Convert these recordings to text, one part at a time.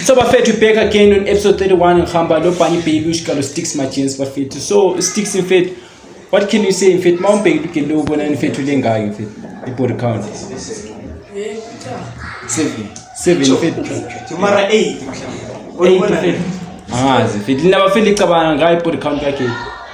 so bafethu we back again on episode 31 ngihamba lo bunny baby ushika lo sticks my jeans bafethu so sticks in fact what can you say in fact mawumbheki lugele lo ubona in fact ulengayo in fact ibody count seven seven in fact mara 8 mhlawumbe angazi in fact linabafeli cabanga ngayo ibody count yakhe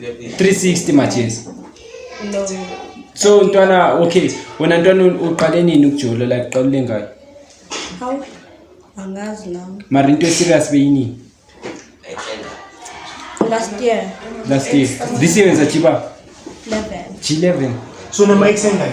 360 majezi no so ntwana okay wena ntwana uqale nini ukujula la kuqala ulengayo haw angazi nami mara into serious beyini last year last year this year wenza chiba 11 g11 so noma exengayo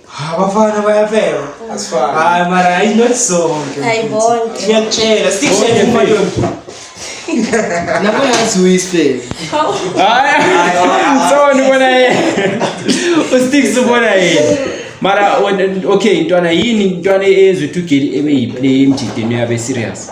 Abafana bayafeba. Asifani. Hayi mara hayi not sonke. Hayi bonke. Ngiyakutshela sikushele umadonto. Nabo yazi uyisifebe. Hayi. Sona ubona yena. Usticks ubona yena. Mara okay ntwana yini ntwana eyenza ukuthi ugeli ebe yiplay emjideni yabe serious.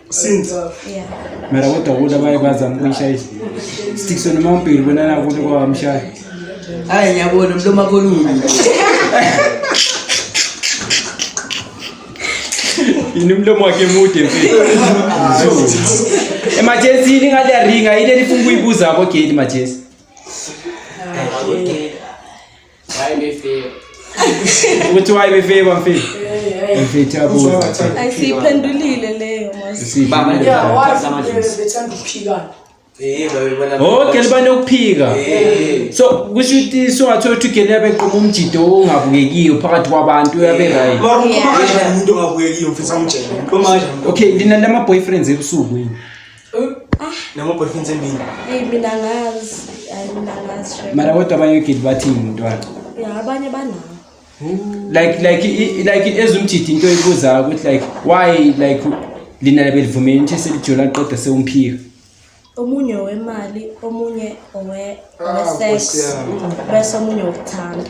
since yeah mara kodwa kuthi abaye bazama ukuyishaya sitikiswe noma umbili bonana kuthi kwawamshaya hayi ngiyabona mloma kolulu yini umlomo wakhe mude emergency yini ngathi yaringa yini enifuna ukuyibuza ko gate emergency Why me feel? Ukuthi why me feel bafika? Eh, eh. Mfethu abuza. Ayisiphendulile leyo mos. Baba nje wazi nje bethanda ukuphikana. Eh, oh gele banokuphika eh. so kusho ukuthi singathola ukuthi gele yabe qoma umjido ongabukekiyo phakathi kwabantu uyabe eh. right okay lina lama boyfriends ebusuku yini noma boyfriends emini Hey mina ngazi, hayi mina ngazi shame. mara kodwa abanye ogidi bathini mntwana Yeah, abanye banawo. like like i- i- like ezumjidi into ebuzayo ukuthi like why like lina belivumela into eselijola qeda sewumphika Omunye wemali, omunye owe Ah, owe sex, Nkosi yami. bese omunye wokuthanda.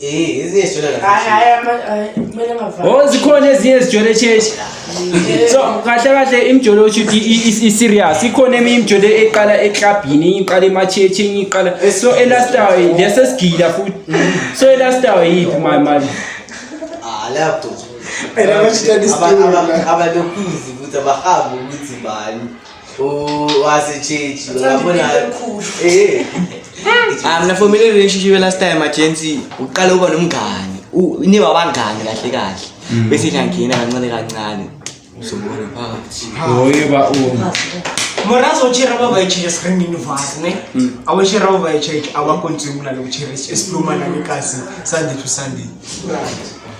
Eh, ezinye sijwayele kahle. Hayi hayi ama hayi, kumele ngavali. Oh zikhona ezinye ezijwele cheche. So kahle kahle imjolo othi i-serious ikhona eminye imjolo eqala eklabhini enye iqala emachechi enye iqala so elastawa lesi sigila futhi so elastawa yiphi my man Ah, lapho. Phela bashitshela isidumo. Abalokuzi ukuthi abahambi ukuthi bani. wasitshitshi ngabona eh ah mina for mina relationship last time agency uqala uba nomngani niba abangani kahle kahle mm. bese ngiyangena kancane kancane uzobona phakathi hoye ba uma morazo uchira baba ichira screen in vase ne mm. awuchira baba ichira awakonzimula lokuchira esipluma nami kasi sunday to sunday right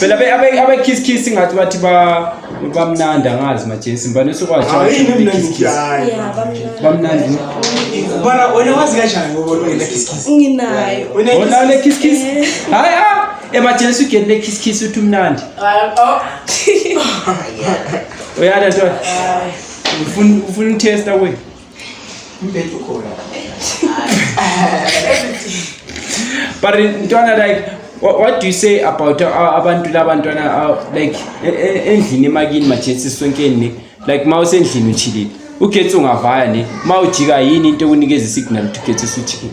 phela abekiss kiss ngathi bathi bamnandi angazi majesi ngibani usukwashobamnandi bona wena wazi kanjani nginayo wena le kiss kiss eh. hayi ah, emajesi ugeni le kiss kiss uthi umnandi oh. uyada ntwana ufuna utesta kwenu Mbethu khona. But ntwana like what, what do you say about uh, abantu labantwana uh, like e, e, endlini emakini majensi sonkeni ne like ma usendlini uchilile ugetsi ungavaya ne ma ujika yini into ekunikeza isignal ukuthi ugetsi usujikile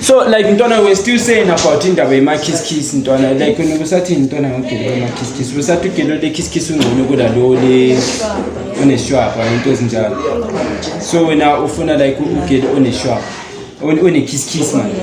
so like ntwana we're still saying about indaba yema-kiss-kiss ntwana like wena ubusathini ntwana ngogelo lema-kiss-kiss ubusathi ugelo le-kiss-kiss ungcono kunalo le oneshwapha into ezinjalo so wena ufuna like ugelo oneshwapha one-kiss-kiss manje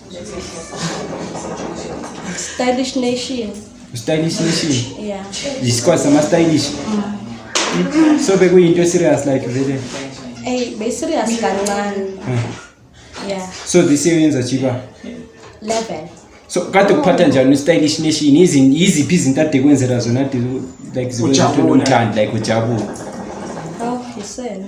Stylish Nation. Stylish Nation. Yeah. Isikole sama stylish. Mm. So bekuyinto serious like vele. Hey, be serious kancane. Yeah. So this year yenza chiba. 11. So kade kuphatha njani stylish nation izin iziphi izinto ade kwenzela zona like zikwenza uthando like ujabule. Oh, yisena.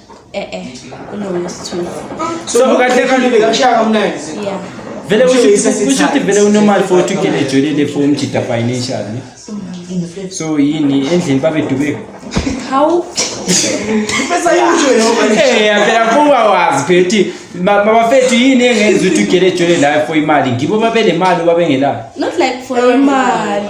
Eh eh. Unomsithuzi. So kahle kahle kakushaya kamnandi. Yeah. Vele usho usho ukuthi vele unormal for ukuthi ugene ejwelele for umjida financial ne. So yini endlini babe dubeko. How? Pesa yusho yona. Eh yaphela kuba wazi phethi. Mabafethu yini engenza ukuthi ugene ejwelele la for imali. Ngibo babe nemali babe ngela. Not like for imali.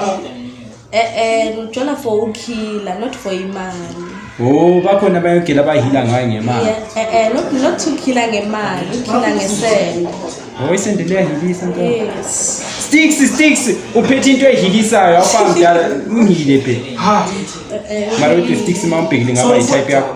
Eh eh ngijona for ukhila not for imali. Oh bakhona bayogila abahila ngayo ngemali. Yeah, eh eh not not to khila ngemali, ukhila ngesende. Oh isende liyahilisa nto. Yes. Sticks sticks uphethe into ehilisayo awufa mdala ungile phe. Ha. Eh, eh, Mara uthi sticks mawubhekile ngaba i type yakho.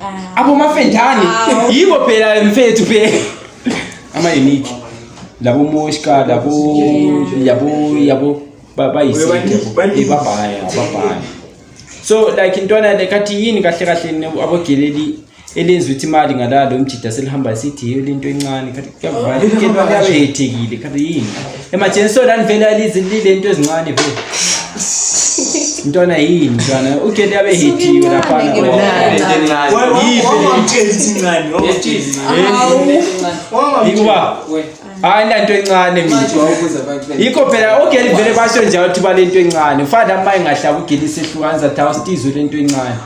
Ah. Abo mafendane. Ah. Yibo phela mfethu phela. Ama unique. Labo moshka, labo yabo yabo bayisike. Ibabaya, babaya. So like intwana le kathi yini kahle kahle abogeleli elenza ukuthi imali ngalalo umjida selihamba sithi yeyolento encane kathi kuyabethekile kanti yini emajenso lani vele alizinile into ezincane vele ntwana yini ntwana ugende abe hitiwe laphana yikuba hayi nanto encane mina yikho phela ogeli vele basho njalo ukuthi balento encane ufana maye ngahlaba ugeli sehlukanisa tha usitizwe lento encane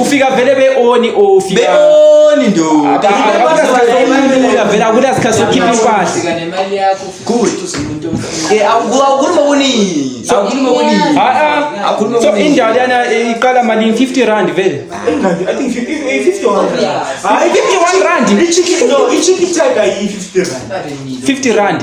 ufika vele beoni ofiabeoni ndoavela kuda sikhathi sokhipha impahlaso indali yana iqala malini 50 rand vele hayi 51 rand 50 rand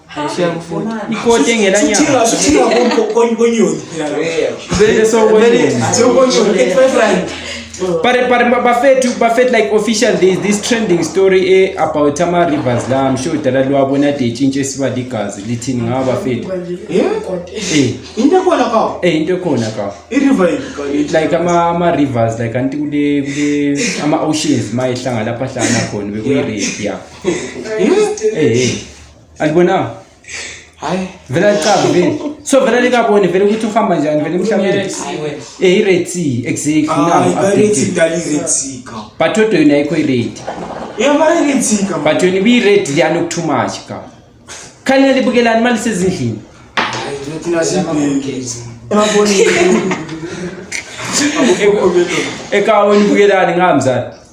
ikoti engenanyanga but but bafethu bafethu like official there is this trending story e about ama rivers la i'm sure dala liwabona de itshintshe siba ligazi lithini ngaba bafethu eh into ekhona ka eh into ekhona ka i river like ama ama rivers like anti kule kule ama oceans mayehlanga lapha hlanga khona bekuyi river yeah eh eh alibonanga hayi vele alicabi vele so vele likaboni vele ukuthi uhamba njani vele emhlabeni eh i-red sea exactly but odwa yona ayikho i-red but yona ibiyi-red liyana okutoo much ka khalela libukelani imali sezindlini ekaweni bukelani ngamzani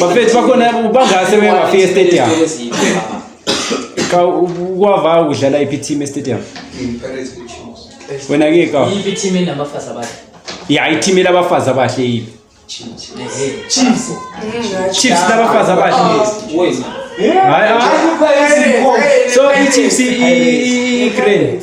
bafethu bakhona bangase beke bafika estadium cha ukwavaya ukudlala iphi team estadium wena-ke ka iyiphi team enabafazi abahle ya iteam elabafazi abahle yiphi chiefs labafazi abahle so ichiefs i-grand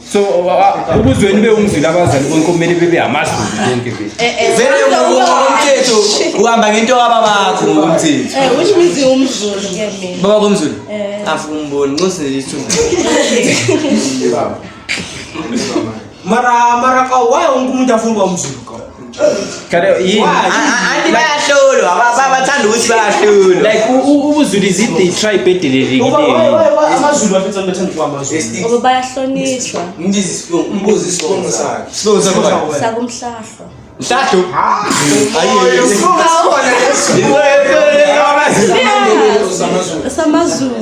so ukuzweni ube umzila abazali konke kumele bebe amazulu konke eh, eh, vele umthetho uhamba ngento yababa bakho ngokomthetho eh which means umzulu ke mina baba komzulu eh. afuna umboni nxose isithunzi mara mara ka why ungumuntu afuna umzulu anti bayahlolwa bathanda ukuthi bayahlolwa like ubuzulu is it the tribe edelelekileyoamazulu bayahlonishwa sakumhlahlwa mhlahlu samazulu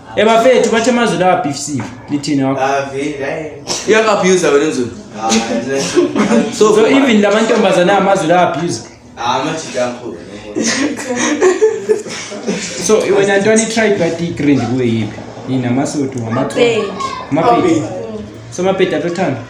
Eh bafethu bathi amazwi lawa beefsive lithini wakho. Uyakabuse wena nzulu. So so even lamantombazana amazwi lawa abuse. Ah majika mkhulu. So wena ntwana i-tribe katigrind kuwe yiphi? Yini amasotho amapedi. Amapedi. So amapedi atothanda.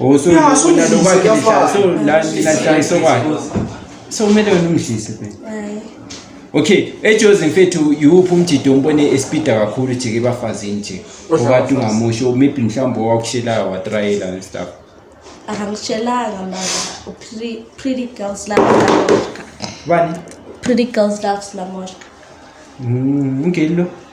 Oh so Yeah, so unalo this kwakhe is nisha so your la ninashayisa kwakhe. So kumele wena umdlise phela. Hayi. Okay, ejozi mfethu yiwuphi umjido ombone espida kakhulu jike ebafazini nje. Okade ungamusho maybe mhlawumbe owakushelayo watrayela and stuff. Akangishelanga mama. Pretty, pretty girls love Lamoshka. Bani? Pretty girls love Lamoshka. Mm, ngelo.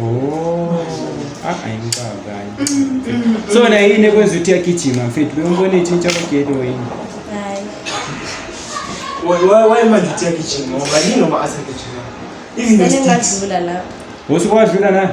Oh, ah, so na yini ekwenza ukuthi yagijima mfethu bewumbona itshintsha kwageli wayini wayemanje ukuthi yagijima ngoba yini noma asagijima usuke wadlula na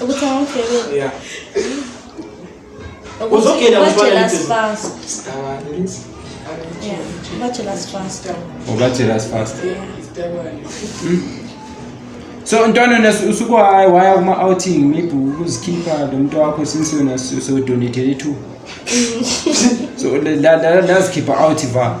ukuthi angifebele yeah uzogenda bajelas fast yeah bajelas fast ubajelas fast so ntwana usuku hayi waya kuma outing maybe ukuzikhipha lo muntu wakho since wena so donate to so lazikhipha out va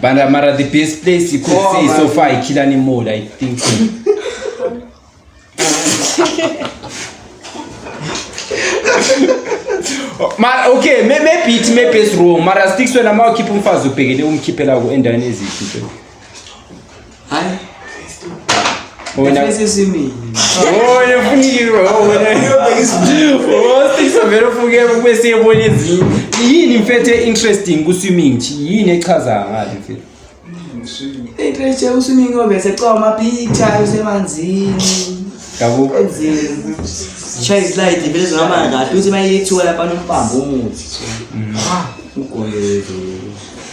Banda Mara, the best place you could oh, say man. so far, Ikilani Mall, I think. mara okay maybe it maybe it's wrong mara sticks wena ma ukhipha umfazi ubhekele umkhiphela ku endaweni ezihle Hayi. Wena sesimile. Oh, yefuniwe wena. Oh, sisa vele ufuke kube siyebona ezinye. Yini mfethu interesting ku swimming nje? Yini echaza ngathi mfethu? Into eje u swimming obe secwa ama picture usemanzini. Yabo. Enzini. Chai slide vele zama ngathi uthi mayithiwa lapha nompambo umuthi. Ah, ugoyezo.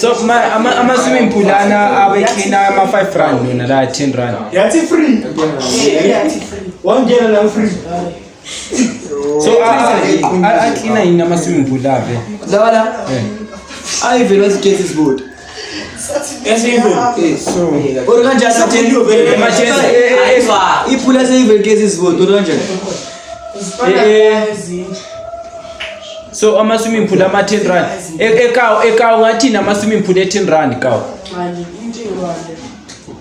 so ama-swimming pool ana abekhina ama-five rand lona la ten rand yathi free wangena la free so aklina yini ama-swimming pool ave lawa la ayi vele wazigezi izibuti iphula seyivel ke sisibodo kanjani so ama-swimming pool ama-ten rand ekawo ekawo ngathini ama-swimming pool e-ten rand kawo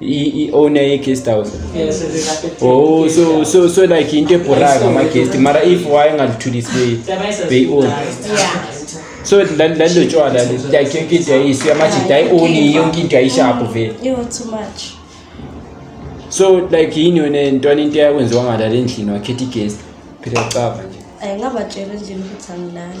i-owner ye-guest house oh so so so like into ebhoraka ama-guest mara if wayengalithulisi beyi-own so lalo tshwala like yonke into yayisu yamajida ayi-oni yonke into yayishabhu vele so like yini yona ntwana into eyakwenziwa ngalala endlini wakhetha i-guest phela cava nje ayingabatshela endlini ukuthi angilali